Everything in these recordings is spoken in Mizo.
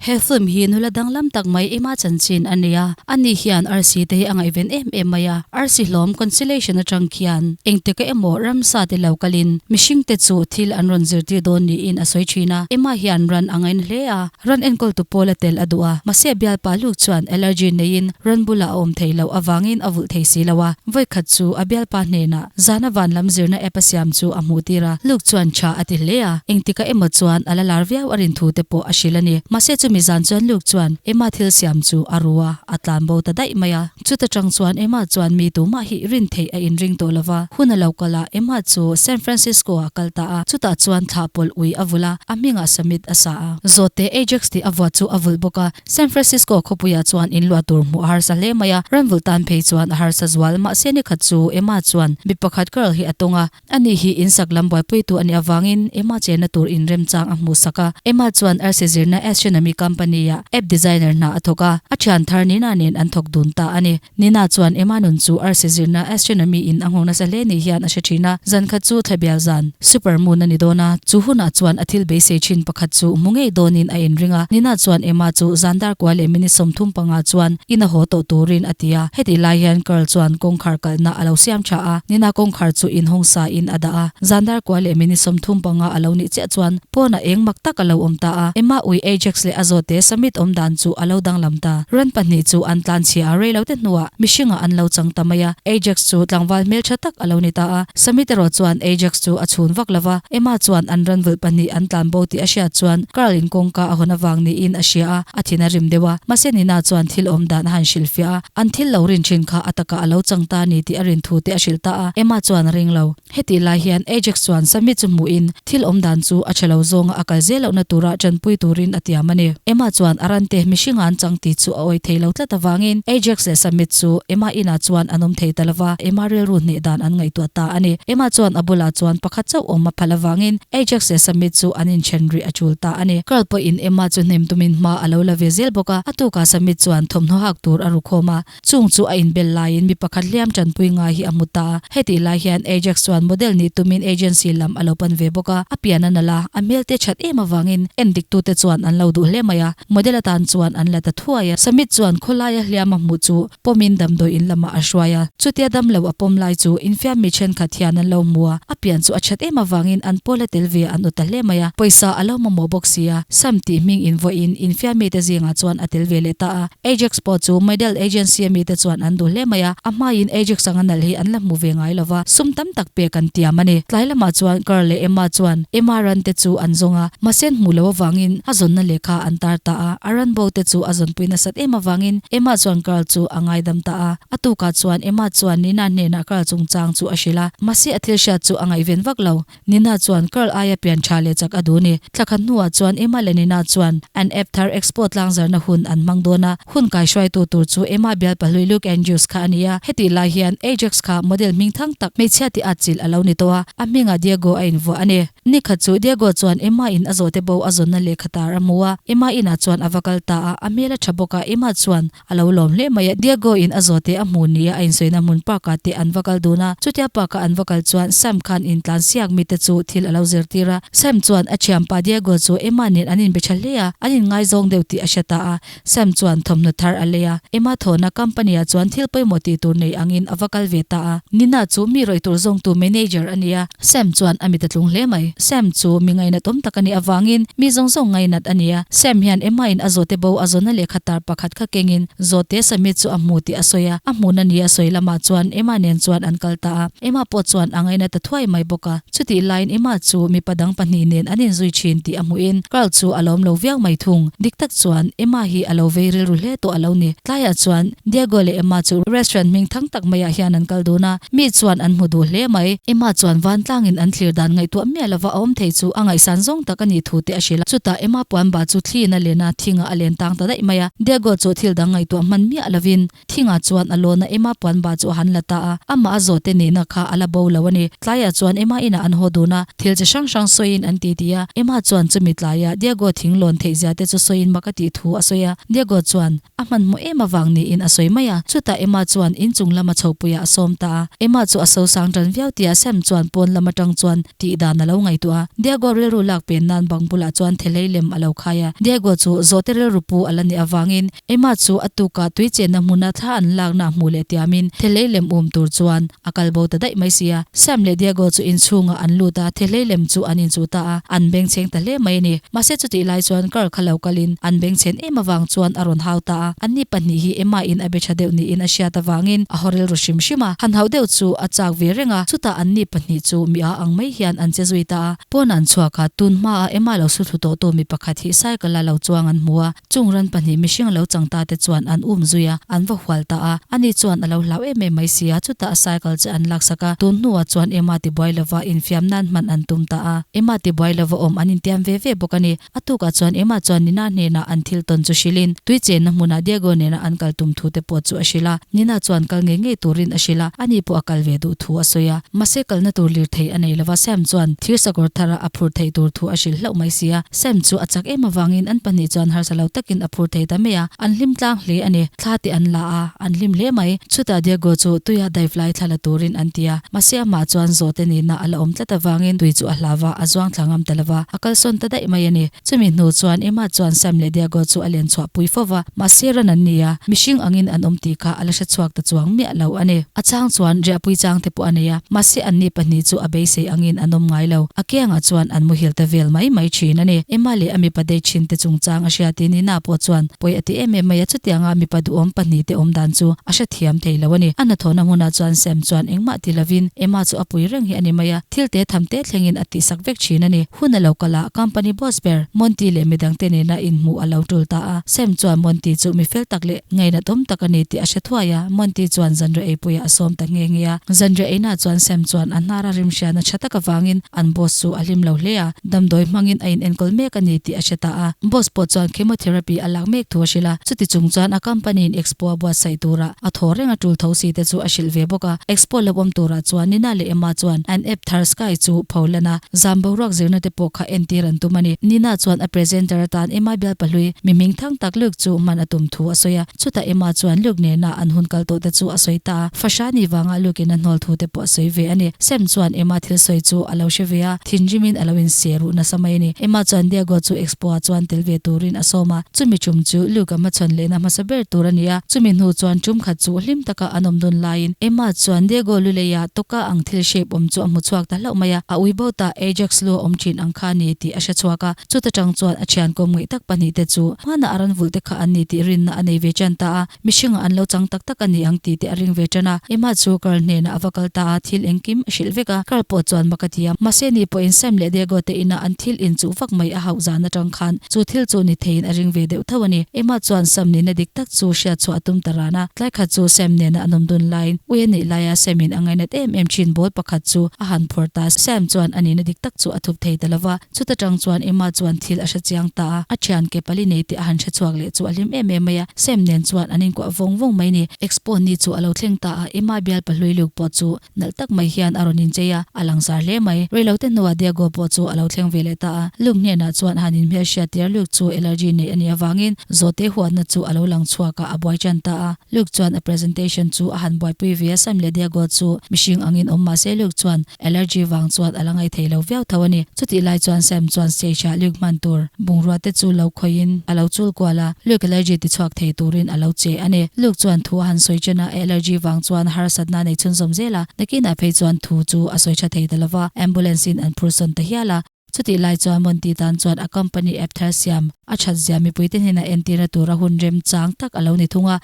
He film hi nula danglam tak mai ema chanchin a nia, ani hian arsi te hi a ngaihven em em mai a, arsi hlawm conciliation atang khian engti ka emaw ramsa ti lo kalin mihring te chu thil an rawn zir tir dawn niin a sawi thin a, ema hian ran a ngain hle a, ran enkawl tu pawl a tel a duh a, mahse bialpa luk chuan allergy neiin ran bula a awm thei loh avangin a vulh thei si lo a, vawikhat chu a bialpa hnenah. Zana vanlam zirna app-a siam chu a hmuh tirah Luke chuan tha a ti hle a, engtikah emaw chuan a la lar viau a rin thu te pawh a hrilh a ni. Mahse chumi zan chuan Luke chuan Emma thil siam chu a ru a, a tlan bo ta daih mai a. Chuta tang chuan Emma chuan mi tumah hi rin theih a in ring tawh lo va, hun a lo kal a, Emma chu San Francisco ah kal ta a, chutah chuan thlah pawlh ui a vulh a, a hmingah summit a sa a. Zawt teh Ajax tih a vuah chu a vulh bawk a, San Francisco khawpuiah chuan in luah tur hmuh a harsa hle mai a, Ranvul tan phei chuan a harsa zual, mahse nikhat chu Emma chuan mi pakhat Carl hi a tawng a, ani hi in sak lam buaipuitu a nih avangin Emma chenna tur in remchang a hmuhsak a, Emma chuan arsi zirna Asian a mi company-ah app designer hna a thawk a, a thian thar nina nen an thawk dun ta a ni. Nina chuan Emma nun chu arsi zirna astronomy in a nghawng nasa hle nih hian a hre thin a, zan khat chu thla bial zan, super moon, a ni dawn a, chu hunah chuan a thil beisei thin pakhat chu hmu ngei dawnin a inring a. Nina chuan Emma chu zan dar kua leh minute sawmthum panga chuan in a haw tawh turin a ti a, hetih lai hian Carl chuan kawngkhar kalhna a lo siam tha a, Nina kawngkhar chu in hawng sa in a dah a, zan dar kua leh minute sawmthum panga a lo nih chiah chuan, Pawn a eng mak tak a lo awm ta a, Emma ui Ajax leh a zawte Summit awm dan chu a lo danglam ta. Run pahnih chu an tlan chhia a, reilote hnuah mihringah an lo chang ta mai a, Ajax chu tlangval hmeltha tak a lo ni ta a, Summit erawh chuan Ajax chu a chhun vak lo va, Emma chuan an run vulh pahnih an tlan bo tih a hriat chuan Carl in kawngka a hawn avang niin a hria a, a thin a rim deuh a, mahse Nina chuan thil awm dan a han hrilh fiah a, an thil lo rin thin kha a takah a lo chang ta ni tih a rinthu te a hrilh ta a, Emma chuan a ring lo. Hetih lai hian Ajax chuan Sammy chu hmuhin thil awm dan chu a thelo zawnga a kal zel loh na tura ṭanpui turin a tiam a ni. Emma chuan a rante mihringa an chang tih chu a awi thei lo tlat avangin Ajax leh Sammy chu Emma inah chuan an awm thei ta lova Emma rilru hneh dan an ngaihtuah ta a ni. Emma chuan a bulah chuan pakhat chauh awm a phalh avangin Ajax leh Sammy chu an inthen rih a tul ta a ni. Karl pawhin Emma chu hnem tumin hma a lo la ve zel bawk a, a tukah Sammy chuan thawmhnaw hak tur a ru khawm a, Chung chu a inbel laiin mi pakhat hliam tanpui ngai hi a hmu ta a. Hetih lai hian Ajax chuan model nih tumin agency lam a lo pan ve bawk a, a pian a nalh a, a hmel te chat em avangin en diktute chuan an lo duh hle mai a, model atan chuan an la ta thuai a. Samit chuan khawlaia hliam a hmuh chu pawmin damdawi in lamah a hruai a, chutia dam lo a pawm lai chu infiam mi thenkhat hian an lo hmu a, a pian chu a chat em avangin an pawl a tel ve an ut ta hle mai a, pawisa a lo mamawh bawk sia, Sam tih hming invawihin infiam mite zingah chuan a tel ve leh ta a. Ajax pawh chu Medel Agency a mite chuan an duh hle mai a, a hmaiin Ajax anga nalh hi an la hmu ve ngai lo va, sum tam tak pek an tiam a ni. Tlai lamah chuan Carl leh Emma chuan Emma ran te chu an zawng a, mahse hmuh loh avangin a zawnna leh kha an tar ta a, a ran bo te chu a zawnpui nasat em avangin Emma chuan Carl chu a ngaidam ta a. A tukah chuan Emma chuan Nina hnenah Carl chungchang chu a hrilh a, mahse a thil hriat chu a ngaihven vak lo. Nina chuan Karl aia pian tha leh chak a duh ni. Tla khat hnuah chuan Emma leh Nina chuan an app thar Expo tlangzarna hun an hmang dawn a. Hun kai hruaitu tur chu Emma bialpa hlui Luke Andrews kha a ni a. Heti lai hian Ajax kha model hming thang tak, hmeichhia tih atchilh a lo ni tawh a, a hmingah Diego a invuah a ni. Nikhat chu Diego chuan Emma in a zawhte bo a zawnna lehkha tar a hmu a, Emma inah chuan a va kal ta a, a hmel a tha bawk a, Emma chuan. A lo lawm hle mai a, Diego in a zawte a hmu nia a insawihna hmun park ah teh an va kal dun a, chutia park ah an va kal chuan Sam khan intlan siak mite chu thil a lo zir tir a, Sam chuan a thianpa Diego chu Emma nen an inbe tha hle a, an inngai zawng deuh tih a hria ta a, Sam chuan thawmhnaw thar a lei a, Emma thawhna company ah chuan thil pawimawh tih tur nei angin a va kal ve ta a, Nina chu mi rawih tur zawngtu manager a nia, Sam chuan a mit a tlung hle mai. Sam chu mi ngainat awm tak a nih avangin mi zawng zawng ngainat a nia. Sam hian Emma in a zawte bo a zawnna lehkha tar pakhat kha kengin zawte Sammy chu a hmu tih a sawi a. A hmun a nih a sawi lamah chuan Emma nen chuan an kal ta a. Emma pawh chuan a ngaina ta thuai mai bawk a. Chutih laiin Emma chu mipa dang pahnih nen an in zui thin tih a hmuhin Carl chu a lawm lo viau mai thung. Dik tak chuan Emma hi a lo vei rilru hle tawh a lo ni. Tlaiah chuan Diego leh Emma chu restaurant hming thang tak maiah hian an kal dun a. Mi chuan an hmu duh hle mai. Emma chuan vantlangin an thlir dan ngaihtuah miah lova a awm thei chu a ngaihsan zawng tak a nih thu te a hrilh a. Chutah Emma puanba chu thlin a len a, thingah a len tang ta daih mai a. Diego chu thil dang ngaihtuah hman miah lovin thingah chuan a lawn a, Emma puanba chu a han la ta a, amaha zawhte nihna kha a la bo lo a ni. Tlaiah chuan Emma inah an haw dun a, thil chi hrang hrang sawiin an titi a, Emma chuan chumi tlaiah Diego thing lawn theihzia te chu sawiin mak a tih thu a sawi a. Diego chuan. A hmanhmawh em avang niin a sawi mai a, chutah Emma chuan in chung lama chhopuiah a sawm ta a. Emma chu a sosang tan viau tia Sam chuan pawn lam atang chuan tih dan a lo ngaihtuah a. Diego rilru lak pen nan bang bulah chuan thelei lem a lo khai a. Diego chu zawhte rilru pu a la nih avangin Emma chu a tukah tui chenna hmuna thla an lakna a hmuh leh tiamin thelei lem um tur chuan A kal bo ta daih mai sia. Sam leh Diago chu inchhungah an lut a, thehlei lem chu an inchuh ta a, an bengchheng ta hle mai a ni. Mahse chutih lai chuan kar kha lo kalin an bengchhen em avang chuan a rawn hau ta a, anni pahnih hi Emma in a be tha deuh niin a hriat avangin a haw rel ru hrim hrim a. Hanho deuh chu a chak ve reng a, chutah anni pahnih chu mi a ang mai hian an che zui ta a. Pawn an chhuak a, tun hmaa Emma lo suthlu tawhtu mi pakhat hi cycle a lo chuang an hmu a, Chung ran pahnih mihring lo chang ta te chuan an um zui a, an va hual ta a, ani chuan a lo hlau em em mai si a, chutah a cycle che an laksak a, tun hnuah chuan Emma tibuai lova infiam nan hman an tum ta a. Emma tibuai lova awm an intiam ve ve bawk a ni. A tukah chuan Emma chuan Nina hnenah an thil tawn chu hrilhin, tui chenna hmunah Diego nena an kal tum thu te pawh chu a hrilh a, Nina chuan kal ngei ngei turin a hrilh a, ani pawh a kal ve duh thu a sawi a, mahse kalna tur lirthei a nei lova Sam chuan thir sakawr thar a a phur theih tur thu a hrilh hlauh mai si a, Sam chu a chak em avangin an pahnih chuan harsa lo takin a phur thei ta mai a, an hlim tlang hle a ni. Thla teh an la a, an hlim hle mai. Chutah Diego chu tuia dive lai thla la turin an ti a, mahse amah chuan zawhte nihna a la awm tlat avangin tui chu a hla va, a zuang thla ngam ta lo va, a kalsawn ta daih mai a ni. Chumi hnu chuan Emma chuan Sam leh Diego chu a len chhuah pui fo va. Mahse ran an nei a, mihring angin an awm tih kha a la hre chhuak ta chuang miah lo a ni. A chang chuan Riahpui chang te pawh a nei a, mahse an ni pahnih chu a beisei angin an awm ngai lo. A kiangah chuan an muhil ta vel mai mai thin a ni. Emma leh a mipa date thin te chungchang a hria tih nihna pawh chuan pawi a ti em em mai a, chutianga mipa duhawm pahnih te awm dan chu a hrethiam thei lo a ni. A hnathawhna hmunah chuan Sam chuan engmah ti lovin Emma chu a pui reng hi a ni mai a, thil te tham te thlengin a tihsak vek thin a ni. Hun a lo kalh a, company boss ber Monty leh midangte nena inhmuh a lo tul ta a. Sam chuan Monty chu mi fel tak leh ngaina tawm tak a ni tih a hre thuai a, Monty chuan zanriah eipuiah a sawm ta nghe nghe a. Zanriah einah chuan Sam chuan a hnara rim hria na tha tak avangin an boss chu a hlim lo hle a, damdawi hmangin a inenkawl mek a ni tih a hre ta a. Boss pawh chuan chemotherapy a lak mek thu a hrilh a, chutichung chuan a company-in expo a buatsaih turah, A thaw renga tul tho si te chu a hrilh ve bawk a. Expo lo awm turah chuan Nina leh Emma chuan an ep thar Sky chu pho lan a. Zan boruak zirna te pawh kha en tir an tum a ni. Nina chuan a presenter atan Emma Bialpahlui mihming thang tak Luke chu hman a tum thu a sawi a. Chutah Emma chuan Luke nenah an hun kal tawh te chu a sawi ta a. Fashani vanga Luke-in a hnawl thu te pawh a sawi ve a ni. Sam chuan Emma thil sawi chu a lo hre ve a, thinrim in a lo insiah ruh nasa mai a ni. Emma chuan Diego chu Expo-ah chuan tel ve turin a sawm a. Chumi ṭum chu Luke-a hmachhawn lehna hmasa ber tur a ni a. Chumi hnu chuan ṭum khat chu hlim taka an awm dun laiin Emma chuan Diego lu leia tawka ang thil shape awm chu a hmu chhuak ta hlauh mai a, a ui bo ta Ajax lu a awm ṭhin ang kha ni tih a hre chhuak a. Chutachang chuan a ṭhian kawm ngaih tak pahnih te chu hmanah a ran vulh te kha an ni tih rinna a nei ve ṭan ta a. Mihringah an lo chang tak tak a ni ang ti te a ring ve tan a. Emma chu Carl hnenah a va kal ta a, thil engkim a hrilh vek a, Carl pawh chuan maka ti a. Mahse ni pawhin Sam leh Diego te inah an thil in chuh vak mai a hauh zan atang khan chu thil chu ni theiin a ring ve deuh tho a ni. Emma chuan Sam nihna dik tak chu hriatchhuah a tum ta ran a, tlai khat chu Sam hnenah a nawm dun laiin ui a nih laia Sam-in a ngainat em em thin bawl pakhat chu a han phawrh ta. Sam chuan a nihna dik tak chu a thup thei ta lo va. Chuta tang chuan Emma chuan thil a hre chiang ta a, a thian ke pali nei teh a han hre chhuak leh chu a hlim em em mai a, Sam nen chuan an inkuah vawng vawng mai ni. Expo ni chu a lo thleng ta a, Emma bialpa hluiluk pawh chu nalh tak mai hian a rawn inchei a, a langsar hle mai. Reilote hnuah Diego pawh chu a lo thleng ve leh ta a, Luke hnenah chuan a han inhmelhriat tir, Luke chu allergy nei a nih avangin zawte huatna chu a lo lang chhuak a, a buai ṭan ta a. Luke chuan a presentation chu a han buaipui ve a, Sam leh Diego chu mihring angin awm mahse Luke chuan Allergy vang chuan a la ngaih thei lo viau tho a ni. Chutih lai chuan Sam chuan stage ah Luke hman tur bungrua te chu lo khawin a lo chul kual a, Luke allergy ti chhuak thei turin a lo che a ni. Luke chuan thu a han sawi chen a, allergy vang chuan harsatna a nei chhun zawm zel a, nakinah phei chuan thu chu a sawi tha thei ta lo va, ambulance in an phur sawn ta hial a. Chutih lai chuan Monty tan chuan a company ep thar siam a that zia mipui te hnena entir na tur a hun rem chang tak a lo ni thung a,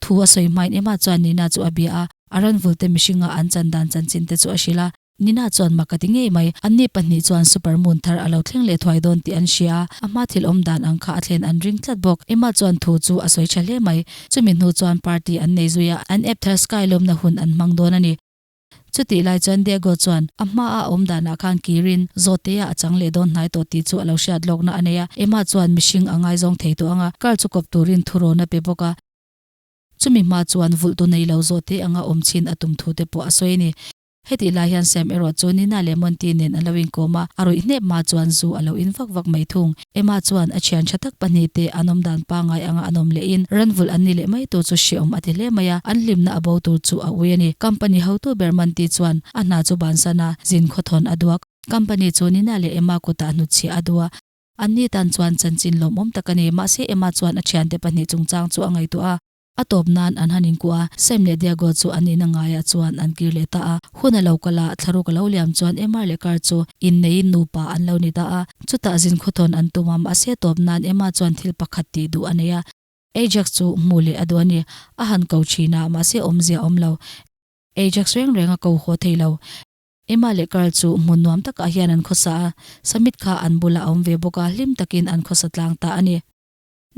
Thu a sawi hmain Emma chuan Nina chu a bia a, a ranvulte mihringa an chan dan chan chin te chu a hrilh a. Nina chuan mak a ti ngei mai. Anni pahnih chuan super moon thar a lo thleng leh thuai dawn tih an hria a, a hma thil awm dan ang kha a thlen an ring tlat bawk. Emma chuan thu chu a sawi tha hle mai. Chumi hnu chuan party an nei zui a, an ep thar sky lawmna hun an hmang dawn a ni. Chutih lai chuan Diego chuan a hma a awm danah khan kirin zawtteia a chang leh dawn hnai tawh tih chu a lo hriat lawkna a nei a, Emma chuan mihring a ngaizawng thei tawh ang a, Carl chu kawp turin thuroun a pe bawk a. Chumi hma chuan vulh tu nei lo zawtte anga awm chin a tum thu te pawh a sawi a ni. Hetih lai hian Sam erawh chu Nina leh Monty nen a lo inkawm a, a ruih hnep hma chuan zu a lo in vak vak mai thung. Emma chuan a thian tha tak pahnih te an awm dan pangai anga an awm leh in Ranvul an ni leh mai tur chu hriaawm a ti hle mai a, an hlimna a bo tur chu a ui a ni. Company hotu ber man ti chuan a hna chu ban san a, zin khaw thawn a duak. Company chu Nina leh Emma kutah hnutchhia a du a. An ni tan chuan chanchin lawmawm tak a ni, mahse Emma chuan a thiante pahnih chungchang chu a ngaihtuah a. A tawp nan an han inkuah a, Sam leh Diago chu an ina ngaiah chuan an kir leh ta a. Hun a lo kal a, thlaruk a lo liam chuan Emma leh Carl chu in neiin nupa an lo ni ta a. Chutah zin khawthawn an tum a, mahse tawp nan Emma chuan thil pakhat tih duh a nei a. Ajax chu hmuh leh a duh a ni, a han ko thin a, mahse awmzia a awm lo. Ajax reng reng a ko huah thei lo. Emma leh Carl chu hmun nuam takah hian an khawsa a, Summit kha an bulah a awm ve bawk a, hlim takin an khawsa tlang ta a ni.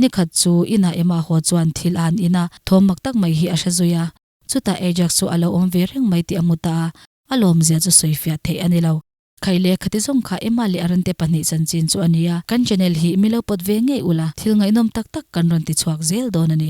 Ni khat chu inah Emma haw chuan thil a'n in a, thawm mak tak mai hi a hre zui a. Chutah Ajax chu a lo awm ve reng mai tih a mu ta a, a lawmzia chu sawi fiah theih a ni lo. Khai leh khati zawng kha Emma leh a rante pahnih chanchin chu a ni a, kan Janelle hi mi lo pawt ve ngei ula, thil ngaihnawm tak tak kan rawn ti chhuak zel dawn a ni.